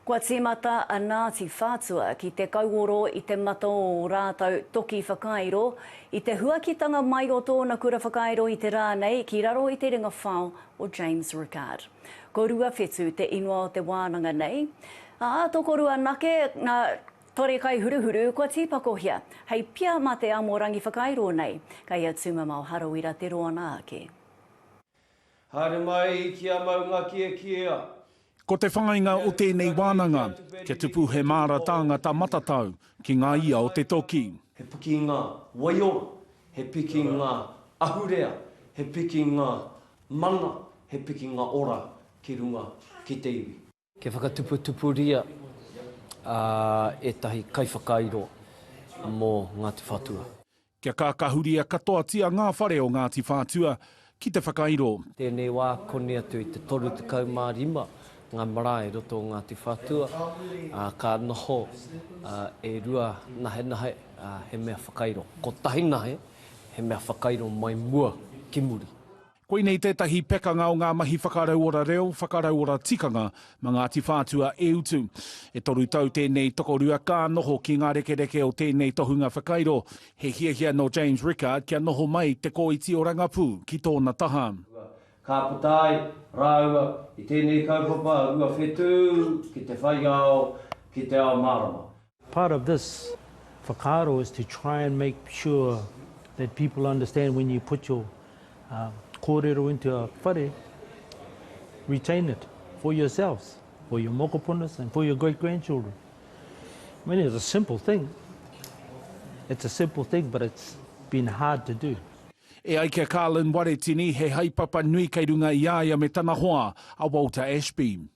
Kua tīmata a Ngāti Whātua ki te kauoro i te mata o ō rātou toki whakairo, i te huakitanga mai o tōna kura whakairo i te rā nei ki raro i te ringa whao o James Rickard. Ko Ruawhetu te ingoa o te wānanga nei, ā, tokoru anake ngā tore kai huruhuru kua tīpakohia hei pia mā te amorangi whakairo nei, kei a Tūmamao Harawira te roanga ake. Haere mai ki a Maungakiekiea. Ko te whāinga o tēnei wānanga, kia tupu he māra tāngata matatau ki ngā ia o te toki. He pikinga waiora, he pikinga ahurea, he pikinga mana, he pikinga ora ki runga ki te iwi. Kia whakatuputupuria ētahi kaiwhakairo mō Ngāti Whātua. Kia kākahuria katoatia ngā whare o Ngāti Whātua ki te whakairo. Tēnei wā, koni atu i te 35 ngā marae i roto o Ngāti Whātua, ā, ka noho e rua nahenahe, ā, he mea whakairo. Kotahi nahe, he mea whakairo mai mua ki muri. Koinei tētahi pekanga o ngā mahi whakarauora reo, whakarauora tikanga mā Ngāti Whātua e utu. E toru tau tēnei tokorua ka noho ki ngā rekereke o tēnei tohunga whakairo, he hiahia nō James Rickard kia noho mai Te Kōiti o Rangapū ki tōna taha. Ka puta ai rāua i tēnei kaupapa rua whetū ki te whai ao, ki te ao mārama. Part of this whakaaro is to try and make sure that people understand when you put your kōrero into a whare, retain it for yourselves, for your mokopunas and for your great grandchildren. I mean it's a simple thing, it's a simple thing but it's been hard to do. E ai ki a Carlin Waretini, he haepapa nui kei runga i a ia me tana hoa, a Walter Ashby.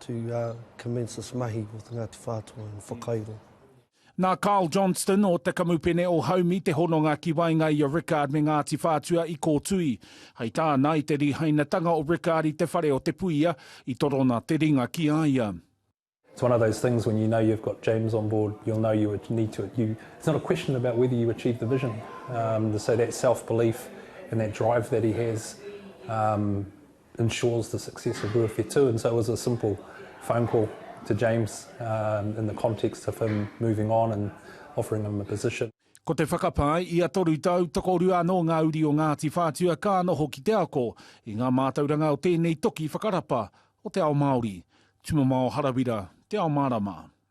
to commence this mahi with Ngāti Whātua and whakairo. Nā Carl Johnston o te Kamupene o Haumi te hononga ki waenga i a Rickard me Ngāti Whātua i kōtui. Hei tāna, i te rīhainatanga o Rickard i te whare o Te Puia, i torona te ringa ki a ia. It's one of those things when you know you've got James on board, you'll know you need to, you, it's not a question about whether you achieve the vision. Um, so that self-belief and that drive that he has, um, ensures the success of Ruawhe Tū and so it was a simple phone call to James um, in the context of him moving on and offering him a position. Ko te whakapae, ia toru tau, tokorua anō ngā uri o Ngāti Whātua ka noho ki te ako i ngā mātauranga o tēnei toki whakarapa o te ao Māori. Tumamao Harawira, Te Ao Mārama.